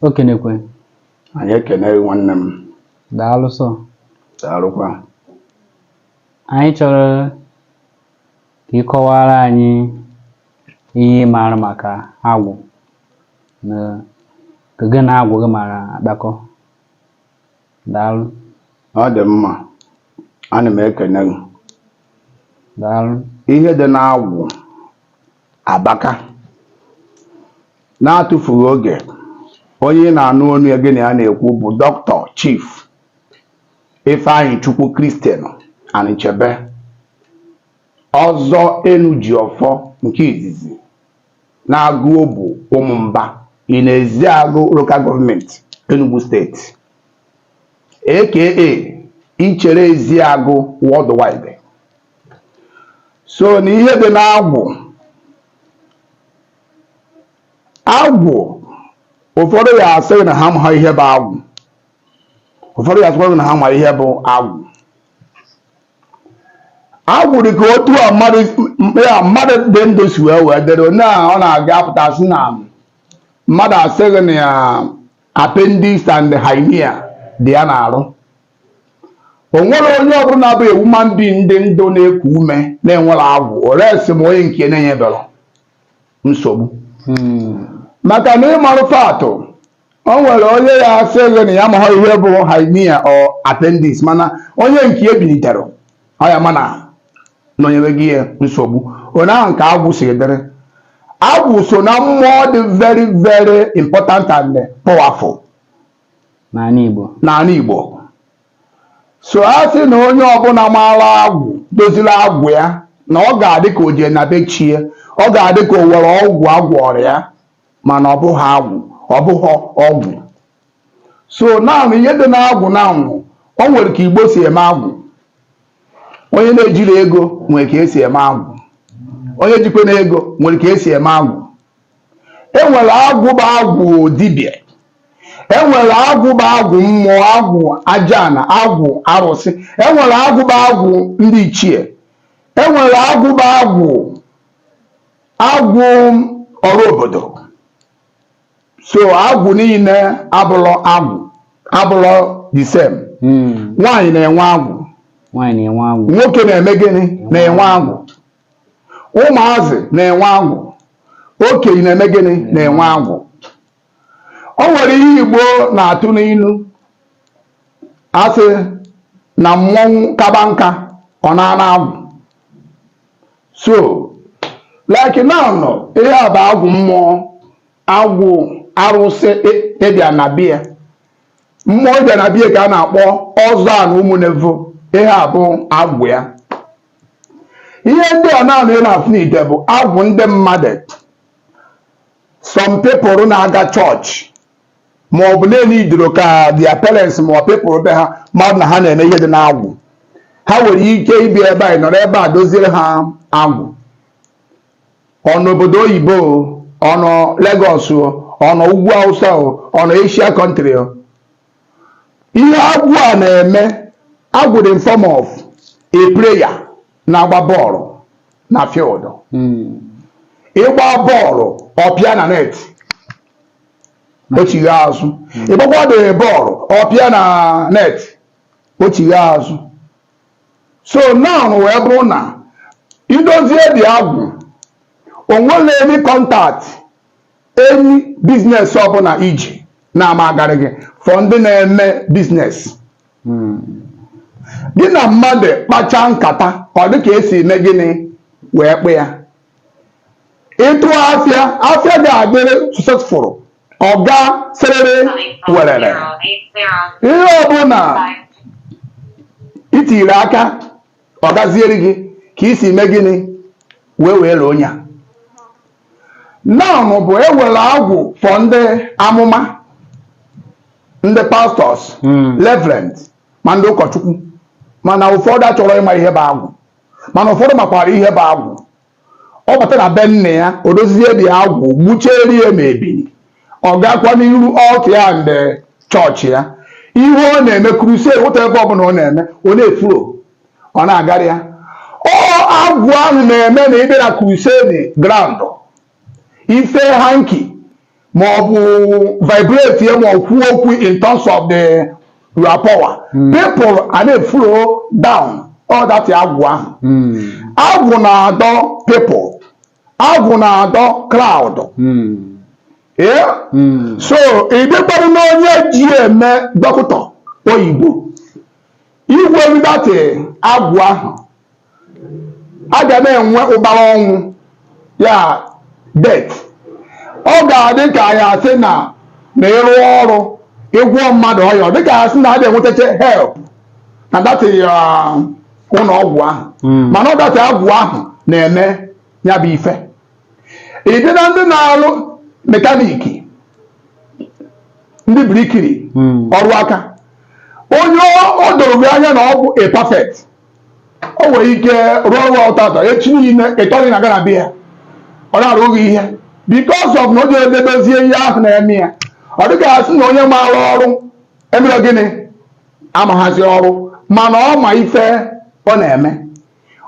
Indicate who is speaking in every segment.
Speaker 1: okenekwe
Speaker 2: anyị ekene gị nwanne m daalụ sọ
Speaker 1: daalụkwa anyị chọrọ ka ị kọwara anyị ihe ị maara maka agwụ na ka gị na agwụ gị mara akpakọ daalụ
Speaker 2: ọ dị mma ana m ekene gị
Speaker 1: daalụ ihe dị
Speaker 2: n'agwụ Abaka. Na-atụfughị oge, onye ị na-anụ onu ya gị na ya na-ekwu bụ Doctor Chief Ifeanyichukwu Christian Anichebe, Ọzọ Enujiọfọ nke izizi n'Agụobu Ụmụmba in Eziagụ Local Government, Enugu State, aka Ichere Eziagụ Worldwide. so na ihe dị n'agwụ agwụ ụfọdụ ya asị gị na ha ma ihe bụ agwụ ụfọdụ ya asị gị na ha ma ihe bụ agwụ agwụ dị ka otu a mmadụ dị ndụ si wee wee dịrị onye a ọ na-aga apụta sị na mmadụ asị gị na appendix and hernia dị ya n'arụ o nwere onye ọbụla bụ human being dị ndụ na-eku ume na-enwerọ agwụ ore sị m onye nke na-enyeberọ nsogbu hmm. maka na ịmarụ fatụ o nwere onye ya asị gị na ya maha ihe bụ hernia or appendix mana onye nke e bilitere ọ ya ama na ọ nyewego ya nsogbu otu ahụ ka agwụ si dịrị agwụ so na mmụọ dị very very important and powerful n'ala Igbo so a sị na onye ọbụla maara agwụ doziri agwụ ya na ọ ga-adị ka o jee na be chi ya ọ ga-adị ka o nwere ọgwụ a gwọrọ ya mana ọ bụghị agwụ ọ bụghị ọgwụ so naanị ihe dị n'agwụ na anwụ o nwere ka igbo si eme agwụ onye na-ejirọ ego nwere ka esi eme agwụ onye jikwanụ ego nwere ka esi eme agwụ enwere agwụ bụ agwụ dibịa enwere agwụ bụ agwụ mmụọ agwụ ajana agwụ arụsị enwere agwụ bụ agwụ ndị ichie enwere agwụ bụ agwụ agwụ ọrụ obodo so agwụ niile abụlọ agwụ abụlọ the same hmm. nwaanyị na-enwe agwụ nwoke na-eme gịnị na-enwe agwụ ụmụazị na-enwe agwụ okenye na-eme gịnị na-enwe agwụ o nwere ihe Igbo na-atụ n'ilu a sị na mmọnwụ kaba nka ọ naa n'agwụ so like now ihe a bụ agwụ mmụọ agwụ arụsị ịbịa na bia mmụọ ịbịa na bia ka a na-akpọ ọzọ a na ụmụnevo ihe a bụ agwụ ya ihe ndị a naanị ị na-afụ n'ite bụ agwụ ndị mmadụ some people na-aga chọọchị ma ọ bụ na-enye idiro ka their parents ma ọ people be ha mmadụ na ha na-eme ihe dị n'agwụ ha nwere ike ibi ebe a nọrọ ebe a doziere ha agwụ ọ nọ obodo oyibo o ọ nọ Lagos o ọ nọ ugwu Hausa o ọ nọ Asia country Ihe agwụ a na-eme agwụ dị in form of a player na-agba bọọlụ na field. Ị gba bọọlụ ọ pịa na net o chigha azụ. Ị gbakwa the bọọlụ ọ pịa na net o chigha azụ. So now wee bụrụ na i dozie the agwụ o nwere any contact Any business ọbụla i ji na-ama agarị gị for ndị na-eme business hmm. gị na mmadụ kpacha nkata ọ dị ka e si eme gịnị wee kpaa ya ị tụa afịa afịa ga-adịrị successful ọ gaa sịrịrị werere ihe ọbụla i tiri aka ọ gaziere gị ka i si mee gịnị wee were onye a now bụ e nwere agwụ for ndị amụma ndị pastors reverend ma ndị ụkọchukwu mana ụfọdụ achọrọ ịma ihe bụ agwụ mana ụfọdụ makwara ihe bụ agwụ ọ bata na be nna ya o dozie the agwụ gbuchere ya ma ebili ọ gakwa n'iru altar ya nde chọọchị ya ihe ọ na-eme crusade wụta ebe ọbụla ọ na-eme ọ na-eflow ọ na-agara ya ọ agwụ ahụ na-eme na ị bịa na crusade ground ị fee hanky ma ọ bụ vibrate ya ma ọ kwuo okwu in terms of the power hmm. people ana-eflow down ọ that agwụ ahụ hmm. agwụ na-adọ people agwụ na-adọ crowd hmm. so ị bịakwara n'onye ji eme dọkịta oyibo i nwere that agwụ ahụ a ga na-enwe ụbara ọnwụ ya death ọ ga-adị ka ya asị na na ịrụ ọrụ ịgwọ mmadụ ọya dịka ya sị na a dị enwetacha help na that ụlọ ọgwụ ahụ hmm. mana ọ that agwụ ahụ na-eme ya bụ ife ị dị na ndị na-arụ mekaniki ndị birikiri hmm. ọrụ aka onye o doro gị anya na ọ bụ a perfect o nwere ike rụọ ọrụ ọrụ tata echi niile ịtọghị na gana bịa ọ na-arụghị ihe because of na o jere dozie ihe ahụ na-eme ya ọ dị ka asị na onye maara ọrụ emere gịnị amaghazi ọrụ mana ọ ma ife ọ na-eme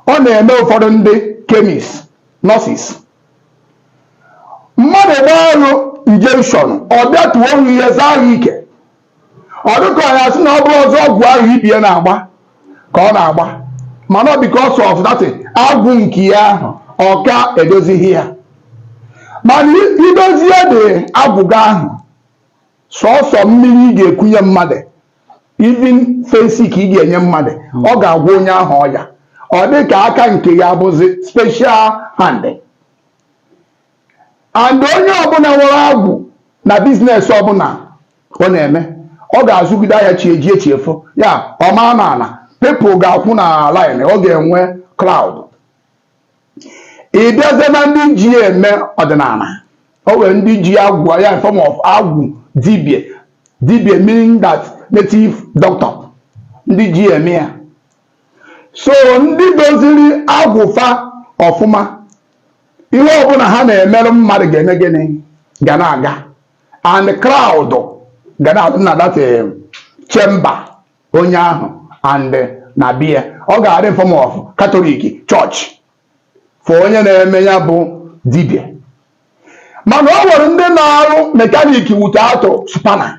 Speaker 2: ọ na-eme ụfọdụ ndị chemist nurses mmadụ gbaa ọgwụ injection ọ bịa tuo ọrụ ihe zaa ahụ ike ọ dịka ya sị na ọ bụrọzị ọgwụ ahụ ibe ya na-agba ka ọ na-agba mana ọ because of that agwụ nke ya ahụ ọ ka edozighị ya mana i dozie the agwụ gị ahụ sọsọ mmiri ị ga-ekunye mmadụ even Phensic ka ị ga-enye mmadụ ọ ga-agwọ onye ahụ ọya ọ dị ka aka nke ya bụzi special hand and onye ọbụla nwere agwụ na business ọbụla ọ na-eme ọ ga-azụgide ahịa chi ejie chi efo ya ọ ma na-ala people ga-akwụ na line ọ ga-enwe crowd ị bịazie na ndị ji ya eme ọdịnala o nwere ndị ji agwụ ya in form of agwụ dibịa dibịa meaning that native doctor ndị ji ya eme ya so ndị doziri agwụ fa ọfụma ihe ọbụla ha na-emeru mmadụ ga-eme gịnị ga na-aga and crowd ga na-adị na that eh, chamber onye ahụ and eh, na-abịa ọ ga-adị in form of Catholic church for onye na-eme ya bụ dibịa mana ọ nwere ndị na-arụ mekanik wute atụ spanner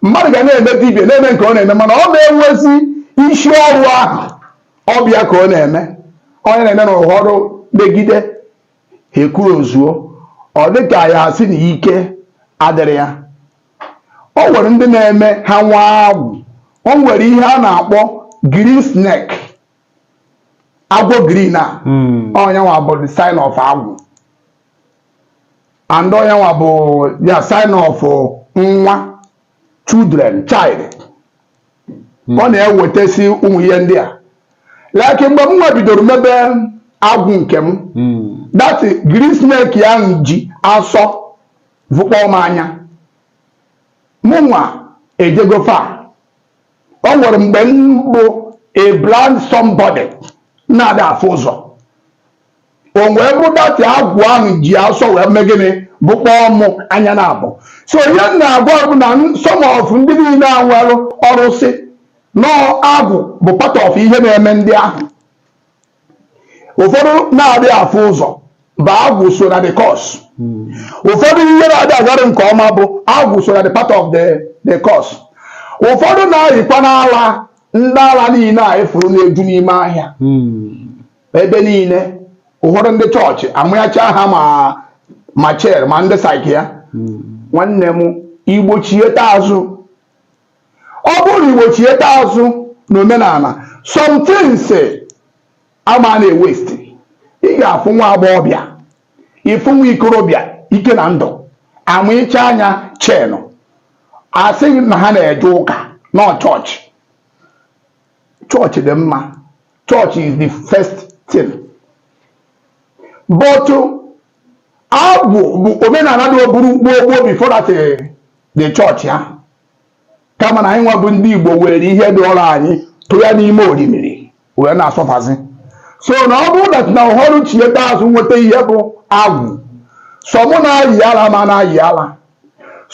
Speaker 2: mmadụ ga na-eme dibịa na-eme nke ọ na-eme mana ọ na-enwezi isi ọrụ ahụ ọ bụ ya ka ọ na-eme onye na-eme na ụfọdụ megide ihe e kwuru o zuo ọ dị ka ya asị na ike adịghị ya o nwere ndị na-eme ha nwa agwụ o nwere ihe a na-akpọ green snake agwọ green a hmm. ọ nyanwa bụ the sign of agwụ and ọ nyanwa bụ ya sign of nwa children child hmm. ọ na-ewetasi ụmụ ihe ndị a like mgbe mụnwa bidoro mebe agwụ nke m hmm. that green snake ya ji asọ vụkpọọ m anya mụnwa ejego fa o nwere mgbe m bụ a blind somebody na-ada afụ ụzọ o wee bụ that agwụ ahụ ji asọ wee mee gịnị bụkpọọ mụ anya naabọ so ihe m na-agwa bụ na some of ndị niile a nwere ọrụsị na agwụ bụ part of ihe na-eme ndị ahụ ụfọdụ na-adị afụ ụzọ bụ agwụ so na the cause ụfọdụ ihe na-adị agara nke ọma bụ agwụ so na the part of the cause ụfọdụ na-ayịkwanụ ala ndị ala niile anyị fụrụ na-eju n'ime ahịa ebe niile ụfọdụ ndị chọọchị amanyecha ha ma chain ma ndị psychia nwanne m igbochieta azụ ọ bụrụ na iwechieta azụ na omenala some things ama na-ewaste ị ga-afụ nwa agbọghọbịa ịfụ nwa ikorobịa ike na ndụ amanyecha ya chain a sị gị na ha na-eje ụka na chọọchị chọọchị dị mma chọọchị is the first thing but agwụ bụ omenala dị oburu gboo gboo before that eh, the chọọchị ahụ kama na anyị nwa bụ ndị Igbo were ihe dịrị anyị tụ ya n'ime orimiri wee na-asọfazi so na ọ bụrụ that na ọhụrụ chieta azụ nweta ihe bụ agwụ some na-ayị ala ma na-ayị ala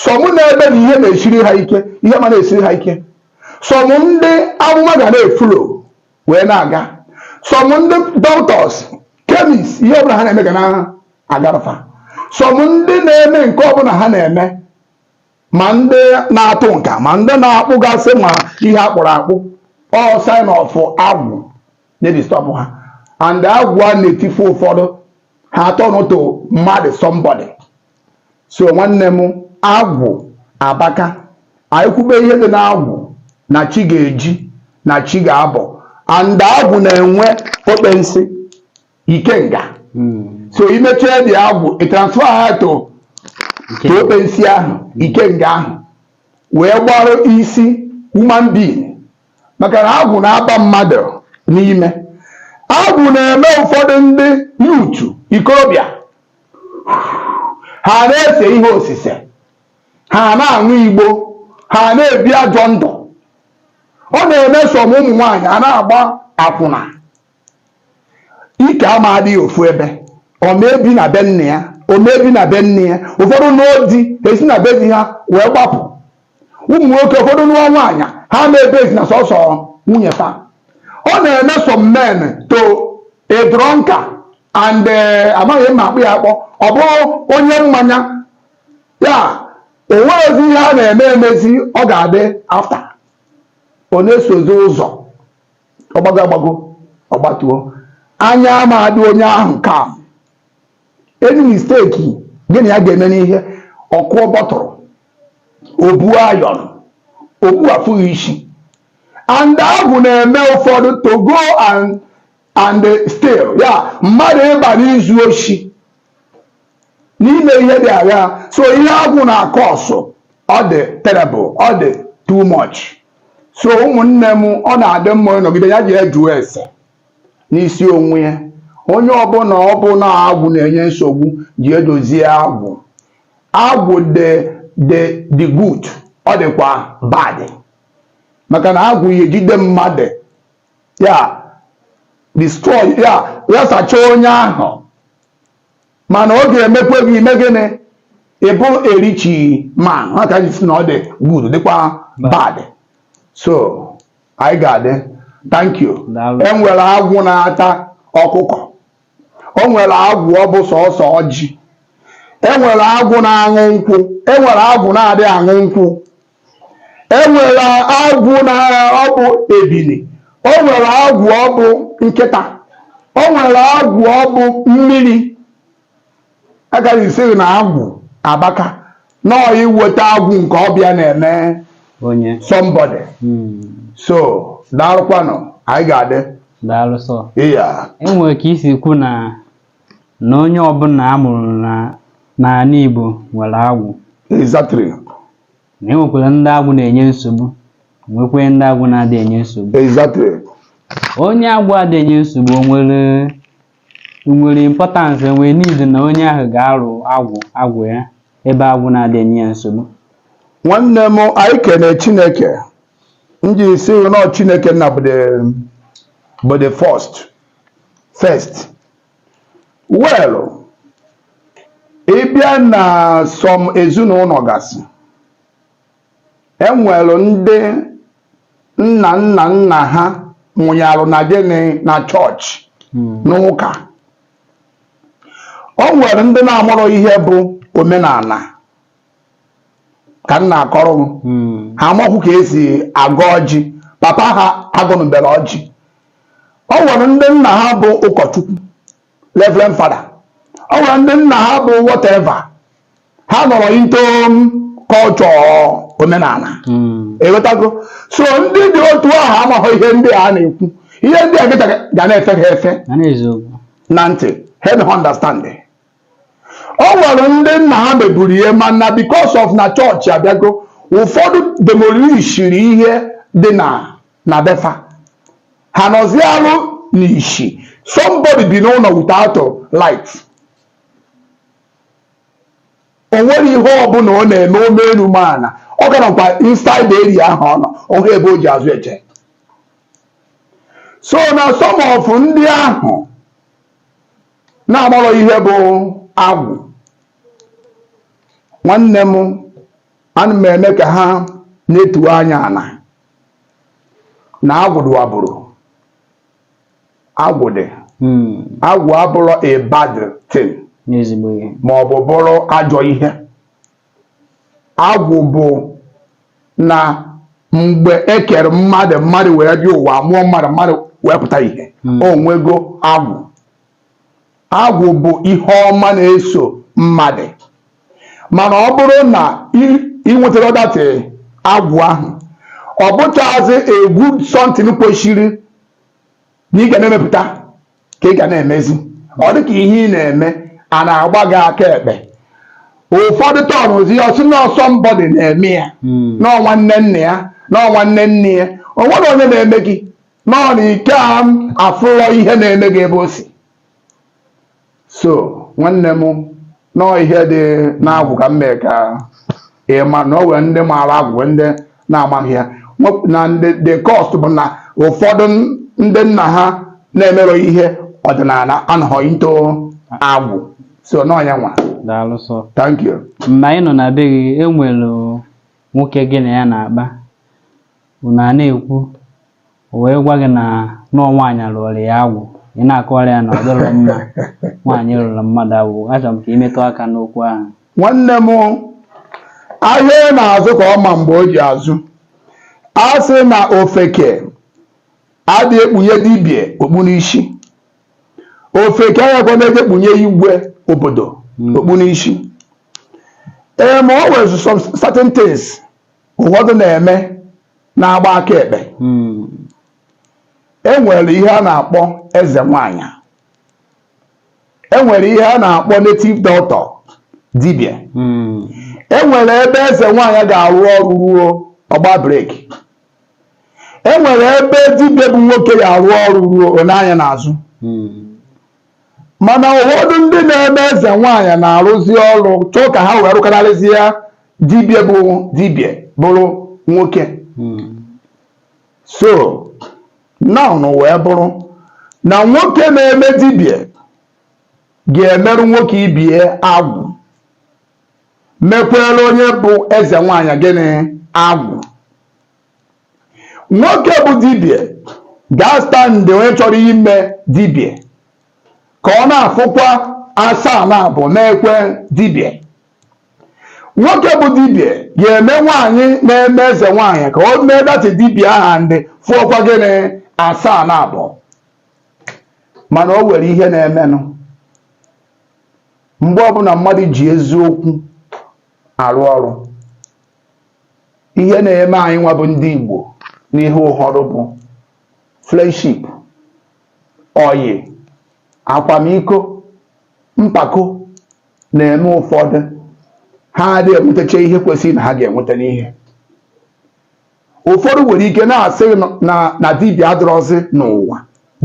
Speaker 2: some na-ebe na ihe na-esiri ha ike ihe ma na-esiri ha ike some ndị amụma ga na-eflow wee na-aga some ndị doctors chemist ihe ọbụla ha na-eme ga na-agara fa some ndị na-eme nke ọbụla ha na-eme ma ndị na-atụ nka ma ndị na-akpụgasị ma ihe a kpụrụ akpụ all sign of agwụ na-edisturb ha and agwụ a na-etifu ụfọdụ ha aturn to mmadụ somebody so nwanne m agwụ abaka anyị kwube ihe dị n'agwụ na chi ga-eji na chi ga-abọ and agwụ na-enwe okpensi ikenga so i mechaa the agwụ ị transfer ha to okpensi ahụ ikenga ahụ wee gbarụ isi human being maka na agwụ na-aba mmadụ n'ime agwụ na-eme ụfọdụ ndị youth ikorobịa ha na-ese ihe osise ha na-aṅụ igbo ha na-ebi ajọ ndụ ọ na-eme some ụmụ nwaanyị a na-agba akwụna ike ama adị ya ofu ebe ọ ma ebi na be nna ya ọ ma ebi na be nne ya ụfọdụ nụọ di esi na be di ha wee gbapụ ụmụ nwoke ụfọdụ nụọ nwaanyị ha ma ebizi na sọsọ nwunye fa ọ na-eme some men to a drunkard and eh, amaghị mma akpụ ya akpọ ọ bụrụ onye mmanya ya o nwerọzi ihe a na-eme emezi ọ ga-adị after ọ na-esozi ụzọ ọ gbago agbago ọ gbatuo anya ama adị onye ahụ ka any mistake gị na ya ga-eme n'ihe ọkụ bọtụrụ obu iron okpu afụghị isi and agwụ na-eme ụfọdụ to go and steal ya mmadụ ịba n'izu oshi n'ime ihe dị aghaa so ihe agwụ na-acause ọ dị terrible ọ dị too much so ụmụnne m ọ na-adị mma onye nọgide ya jee jụọ ese n'isi onwe ya onye ọbụla ọ bụ na agwụ na-enye nsogbu jee dozie agwụ agwụ dị dị dị good ọ dịkwa bad maka na agwụ ya ejide mmadụ ya destroy ya ya sachaa onye ahụ mana ọ ga-emekwa gị ime gịnị ịbụ a rich man ya ka m ji sị na ọ dị good dịkwa bad so anyị ga-adị thank you enwere agwụ na-ata ọkụkọ o nwere agwụ ọ bụ sọsọ ọjị enwere agwụ na-aṅụ nkwụ enwere agwụ na-adị aṅụ nkwụ E nwere agwụ na ọ bụ ebili, o nwere agwụ ọ bụ nkịta, o nwere agwụ ọ bụ mmiri. Ya ka m ji sị gị na agwụ abaka nọọ iweta agwụ nke ọbịa na-eme onye somebody. Mm. So daalụkwanụ, anyị ga-adị. daalụ sọ
Speaker 1: Iya. enwere
Speaker 2: ka i
Speaker 1: si kwu na na onye ọbụla a mụrụ n'ala Igbo nwere agwụ
Speaker 2: Exactly. na
Speaker 1: e nwekwara ndị agwụ na-enye nsogbu nwekwee ndị agwụ na-adị enye nsogbu Exactly.
Speaker 2: onye
Speaker 1: agwụ adị enye nsogbu o nwere o nwere importance o nwere need na onye ahụ ga-arụ agwụ agwụ ya ebe agwụ na-adị enye ya nsogbu nwanne
Speaker 2: m anyị kene chineke m ji si nọ chineke nna bụ the- bụ the first well ị bịa na some ezinụlọ gasị enwere ndị nna nna nna ha nwụnyalụ na gịnị na chọọchị n'ụka o nwere ndị na-amụrọ ihe bụ omenala ka m na-akọrọ m hmm. ha amaghị ka esi agọ ọjị papa ha agọnụbere ọjị o nwere ndị nna ha bụ ụkọchukwu reverend father o nwere ndị nna ha bụ whatever ha anọrọ into culture omenala hmm. ewetago so ndị dị otu ahụ amaghị ihe ndị a na-ekwu ihe ndị a ga na-efe ha efe na ntị ha na-understand o nwere ndị nna ha meburu ihe mana because of na chọọchị abịago ụfọdụ demolishiri ihe dị na na be fa ha nọzialụ n'ishi somebody bi n'ụlọ without light o nwere ihe ọbụla ọ na-eme o mee elu ma ana ọ ga-anọkwa inside area ahụ ọ nọ ọ hụ ebe o ji azụ eje so na some of ndị ahụ na-amarọ ihe bụ agwụ nwanne m ana m eme ka ha netu anya ana na agwụ dị abụrụ agwụ dị Hmm. agwụ abụrọ a bad thing n'ezigbo ihe ma ọ bụ bụrụ ajọ ihe agwụ bụ na mgbe e kere mmadụ mmadụ wee bịa ụwa mụọ mmadụ mmadụ wee pụta ihe hmm. o nwego agwụ agwụ bụ ihe ọma na-eso mmadụ mana ọ bụrụ na i nwetarọ that agwụ ahụ ọ bụchazi egwu something kwesịrị na ị ga na-emepụta ka ị ga na-emezi ọ dị ka ihe ị na-eme a na-agba gị aka ekpe ụfọdụ tọnụzi ya ọ sị na ọ somebody na-eme ya hmm. na ọ nwanne nna ya na ọ nwanne nne ya o nwerọ onye na-eme gị na ọ na ị ka afụrọ ihe na-eme gị ebe o si so nwanne m na ọ ihe dị n'agwụ ka m mee ka ị ma na o nwere ndị maara agwụ nwee ndị na-amaghị ya Nwe- and the cause bụ na ụfọdụ ndị nna ha na-emerọ ihe ọdịnala anọghị into agwụ so na ọ ya nwa daalụ sọ
Speaker 1: thank you
Speaker 2: mgbe anyị nọ na be
Speaker 1: gị e nwere nwoke gị na ya na-akpa unu a na-ekwu o wee gwa gị na na ọ nwaanyị a lụọrọ ya agwụ ị na-akọwara ya na ọ dịrọ mma nwaanyị ịlụrụ mmadụ agwụ achọrọ m ka i metụ aka n'okwu ahụ nwanne m
Speaker 2: ahịa na-azụ ka ọ ma mgbe o ji azụ a sị na ofeke adị ekpunye dibia okpu n'isi ofeke agakwa na-eje ekpunye igwe obodo okpu n'isi ee ma o nwere some certain things ụfọdụ na-eme na-agba aka ekpe e nwere ihe a na-akpọ eze nwanyị e nwere ihe a na-akpọ native doctor dibia e nwere ebe eze nwanyị ga-arụ ọrụ ruo ọ gbaa breki e nwere ebe dibia bụ nwoke ga-arụ ọrụ ruo o nee anya n'azụ mana ụfọdụ ndị na-eme eze nwaanyị na-arụzi ọrụ chọọ ka ha wee rụkararịzie dibịa bụ dibịa bụrụ nwoke so now wee bụrụ na nwoke na-eme dibịa ga-emerụ nwoke ibe ya agwụ mekwere onye bụ eze nwaanyị gịnị agwụ nwoke bụ dibia ga-astand onye chọrọ ime dibia ka ọ na-afụkwa asaa na abụọ mekwee dibia nwoke bụ dibia ga-eme nwaanyị na-eme eze nwaanyị ka o mee that dibia ahụ ndị fụọkwa gịnị asaa na abụọ mana o nwere ihe na-emenụ mgbe ọbụla mmadụ ji eziokwu arụ ọrụ ihe na-eme anyị nwa bụ ndị Igbo n'ihe ụfọdụ bụ friendship oyi akwamiko mpako na-eme ụfọdụ ha adịghị enwetacha ihe kwesịrị na ha ga-enweta n'ihe ụfọdụ nwere ike na-asị na dibịa adịrọzi n'ụwa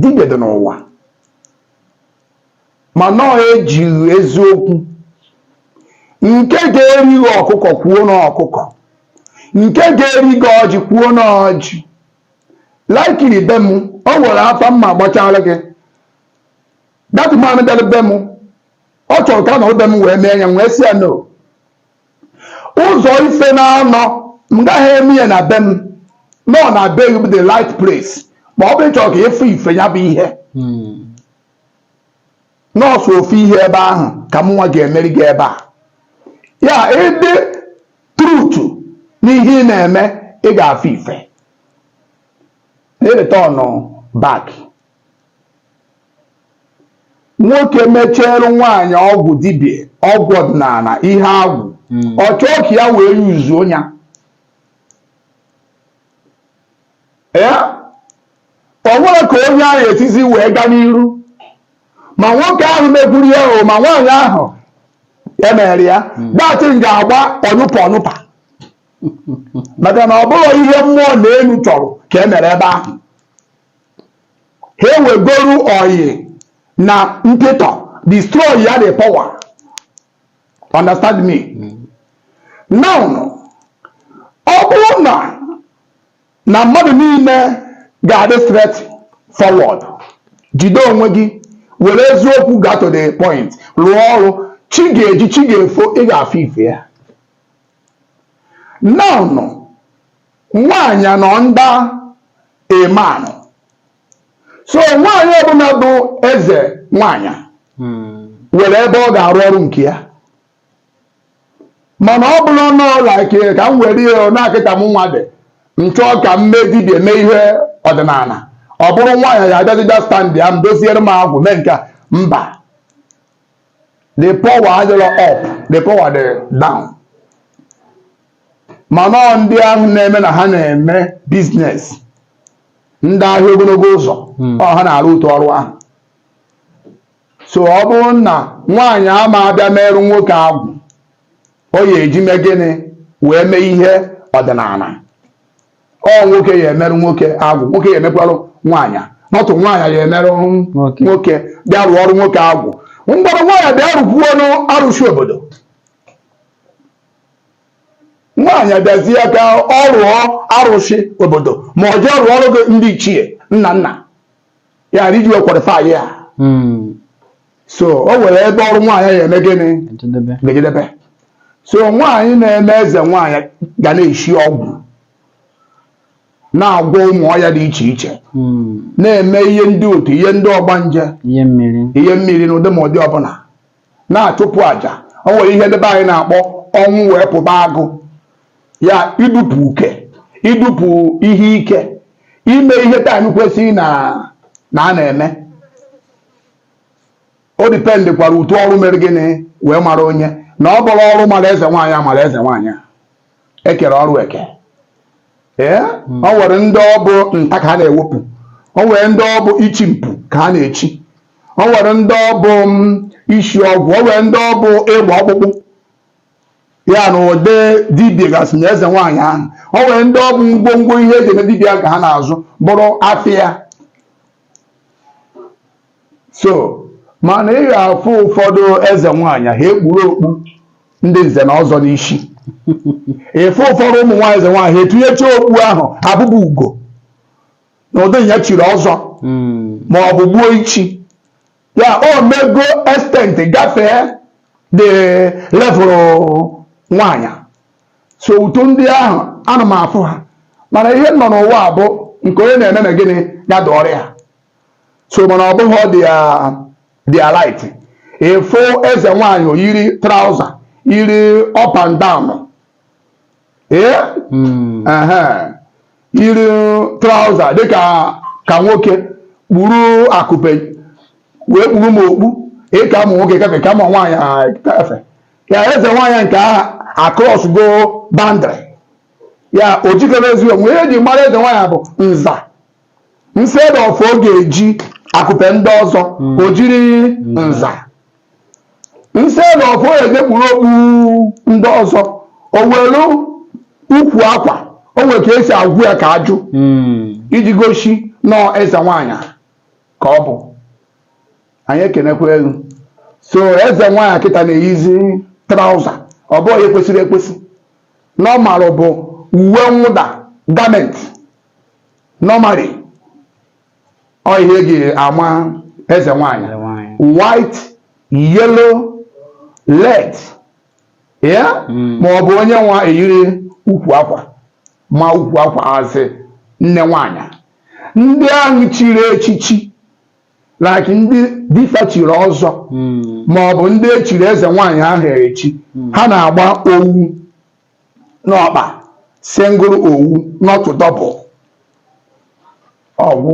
Speaker 2: dibịa dị n'ụwa mana ejighị eziokwu nke ga-eri gị ọkụkọ kwuo na ọkụkọ nke ga-eri gị ọjị kwuo na ọjị likely be m o nwere afa m ga-agbachara gị that man bịara be m ọ chọrọ ka a nọrọ be m wee mee ya wee sị ya no ụzọ ife naanọ m gaghị eme ya na be m na ọ na be gị bụ the right place ma ọ bụ ị chọrọ ka ị fụ ife ya bụ ihe na ọ sọ ofu ihe ebe ahụ ka mụ nwa ga-emeri gị ebe a ya ị dị truth n'ihe ị na-eme ị ga-afụ ife na-return back nwoke mechere nwaanyị ọgwụ dibịa ọgwụ ọdịnala ihe agwụ hmm. ọ chọọ ka ya wee use ya o nwere ka onye ahụ esizi wee gaa n'iru ma nwoke ahụ megburu ya o ma nwaanyị ahụ e mere ya hmm. that thing ga-agba ọnyụpa ọnyụpa maka na ọ bụghị ihe mmụọ na elu chọrọ ka e mere ebe ahụ ha ewegoru oyi na mpịtọ destroy ya the power understand me now ọ bụrụ na na mmadụ niile ga-adị straight forward jide onwe gị were eziokwu gaa to the point rụọ ọrụ chi ga-eji chi ga-efo ị ga-afụ ife ya now nwaanyị nọ nda emanụ so nwaanyị ọbụla bụ eze nwaanyị nwere ebe ọ ga-arụ ọrụ nke ya mana ọ bụrụ na ọ like ka m were ihe na kịta mụ nwa dị m chọọ ka m mee dibịa mee ihe ọdịnala ọ bụrụ nwaanyị ya abịazịbịa standịa m doziere m agwụ mee nke mba the power adịrọ up the power dị down mana ọ ndị ahụ na-eme na ha na-eme biznes ndị ahịa ogologo ụzọ hmm. ọ ha na-arụ otu ọrụ ahụ so ọ bụrụ na nwaanyị ama abịa meerụ nwoke agwụ ọ ya eji mee gịnị wee mee ihe ọdịnala ọ nwoke ya emerụ nwoke agwụ nwoke ya emekwarụ nwaanyị not nwaanyị ya emerụ nwoke bịa rụọ ọrụ nwoke agwụ mgbọrọ nwaanyị bịa rụkwuo n'arụsị obodo nwaanyị abịazie ka ọ rụọ arụsị obodo ma ọ jee rụọ ọrụ ndị ichie nna nna ya na iji kwalifai ya Hmm. so o nwere ebe ọrụ nwaanyị ya eme gịnị Ejedebe. ga-ejedebe so nwaanyị na-eme eze nwaanyị ga na-esi ọgwụ na-agwọ ụmụ ọya dị iche iche Hmm. na-eme ihe ndị otu ihe ndị ọgbanje Ihe mmiri. ihe mmiri n'ụdị ma ụdị ọbụla na-achụpụ aja o nwere ihe ndị be anyị na-akpọ ọnwụ wee pụba agụ ya idupụ uke idupụ ihe ike ime ihe taim kwesịrị na a na-eme o dipendịkwara otu ọrụ mere gịnị wee mara onye na ọ bụrụ ọrụ mara eze nwaanyị a mara eze nwaanyị a e kere ọrụ eke ee hmm. o nwere ndị ọ bụ nta ka ha na-ewepụ o nwere ndị ọ bụ ichi mpu ka ha na-echi o nwere ndị ọ bụ mm, isi ọgwụ o nwere ndị ọ bụ ịgba ọkpụkpụ ya na ụdị dibịa gasị na eze nwaanyị ahụ o nwere ndị ọ bụ ngwongwo ihe e ji eme dibịa ka ha na-azụ bụrụ afịa so mana ị ga-afụ ụfọdụ eze nwaanyị ha ekpuru okpu ndị nze na ọzọ n'isi ị fụ ụfọdụ ụmụ nwaanyị eze nwaanyị ha etinyecha okpu ahụ abụba ugo n'ụdị ya chiri ọzọ hmm. ma ọ bụ gbuo ichi ya o mego extent gafee the level nwaanyị so otu ndị ahụ ana m afụ ha mana ihe nọ n'ụwa bụ nke onye na-eme na gịnị ya dịrị ya so mana ọ bụghị ihe dị right ịfụ eze nwaanyị o yiri trouser yiri up and down hmm. yiri trouser dịka ka nwoke kpuru akụpe wee kpuru m okpu ịka ụmụ nwoke kafe ka ụmụ nwaanyị kafe ya eze nwaanyị nke ahụ acrossgo boundary ya o jikere ezi onwe ihe eji mara eze nwaanyị bụ nza instead of ọ ga-eji akụpe ndị ọzọ o jiri nza instead of ọ ga-ekpuru okpu ndị ọzọ o were ukwu akwa o nwere ka esi agwụ ya ka aju iji gosi na eze nwaanyị ka ọ bụ anyị ekenekwa elu so eze nwaanyị kịta na-eyizi trouser ọ bụghị ihe kwesịrị ekwesị normal bụ uwe mwụda garment normally ọ ihe eji ama eze nwanyị white yellow red ya hmm. ma ọ bụ onye nwa eyiri ukwu akwa ma ukwu akwa as nne nwanyị ndị ahụ chiri echichi like ndị dịfa chiri ọzọ hmm. ma ọ bụ ndị echiri eze nwaanyị ahụ echi hmm. ha na-agba owu n'ọkpa single owu not double owu